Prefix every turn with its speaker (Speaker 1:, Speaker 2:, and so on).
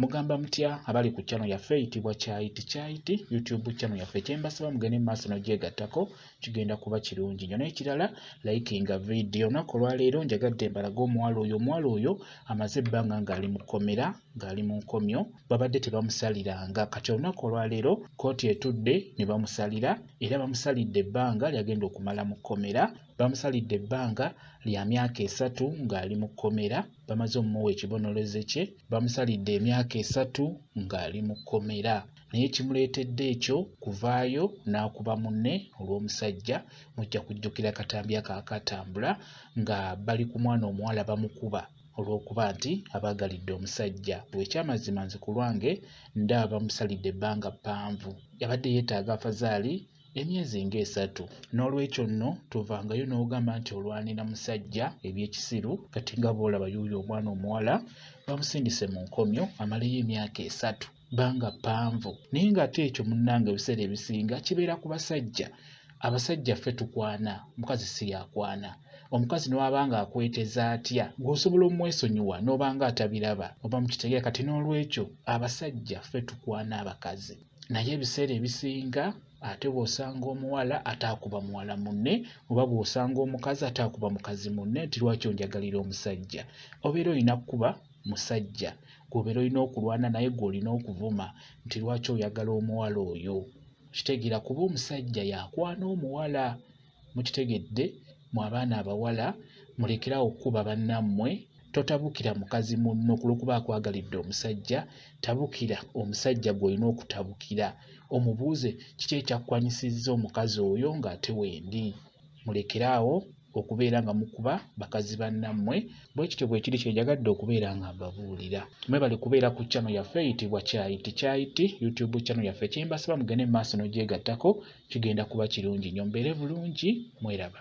Speaker 1: Mugamba mutya abali ku channel yaffe eyitibwa Kyayiti Kyayiti YouTube channel yaffe kyembasaba mugende mu maaso n'ogyegattako kigenda kuba kirungi nnyo n'ekirala likinga vidiyo olunaku olwaleero njagadde mbalaga omuwala oyo omuwala oyo amaze ebbanga ng'ali mu kkomera ng'ali mu nkomyo babadde tebamusaliranga kati olunaku olwaleero kkooti etudde ne bamusalira era bamusalidde ebbanga lyagenda okumala mu kkomera bamusalidde ebbanga lya myaka esatu ng'ali mu kkomera bamaze omumuwa ekibonorezo kye bamusalidde emyaka esatu ng'ali mu kkomera naye kimuleetedde ekyo kuvaayo n'akuba munne olw'omusajja mujja kujjukira akatambi ako akatambula nga bali ku mwana omuwala bamukuba olw'okuba nti abaagalidde omusajja bwekyamazima nze ku lwange ndaba bamusalidde ebbanga ppanvu yabadde yeetaaga afazaali emyezi ng'esatu n'olwekyo nno tovangayo n'ogamba nti olwanira musajja ebyekisiru kati nga bwolaba yuuyo omwana omuwala bamusindise mu nkomyo amaleyo emyaka esatu banga ppanvu naye ng'ate ekyo munnanga ebiseera ebisinga kibeera ku basajja abasajja ffe tukwana mukazi si yakwana omukazi newaba nga akweteza atya gweosobola omwesonyiwa nobanga atabiraba oba mukitegera kati n'olwekyo abasajja ffe tukwana abakazi naye ebiseera ebisinga ate bw'osanga omuwala ate akuba muwala munne oba bw'osanga omukazi ate akuba mukazi munne nti lwaki onjagalira omusajja obeera olina kukuba musajja gwobeera olina okulwana naye gw'olina okuvuma nti lwaki oyagala omuwala oyo kitegeera kuba omusajja yakwana omuwala mukitegedde mu abaana abawala mulekerawo okukuba bannammwe totabukira mukazi munno ku lwokuba akwagalidde omusajja tabukira omusajja gw'olina okutabukira omubuuze kiki ekyakukwanyisizza omukazi oyo ng'ate wendi mulekeraawo okubeera nga mukuba bakazi bannammwe bwe kityo bwe kiri kyenjagadde okubeera nga mbabuulira mwebale kubeera ku channel yaffe eyitibwa kyayiti kyayiti youtube channel yaffe kyembasaba mugende mu maaso n'ogyegattako kigenda kuba kirungi nnyo mbeere bulungi mweraba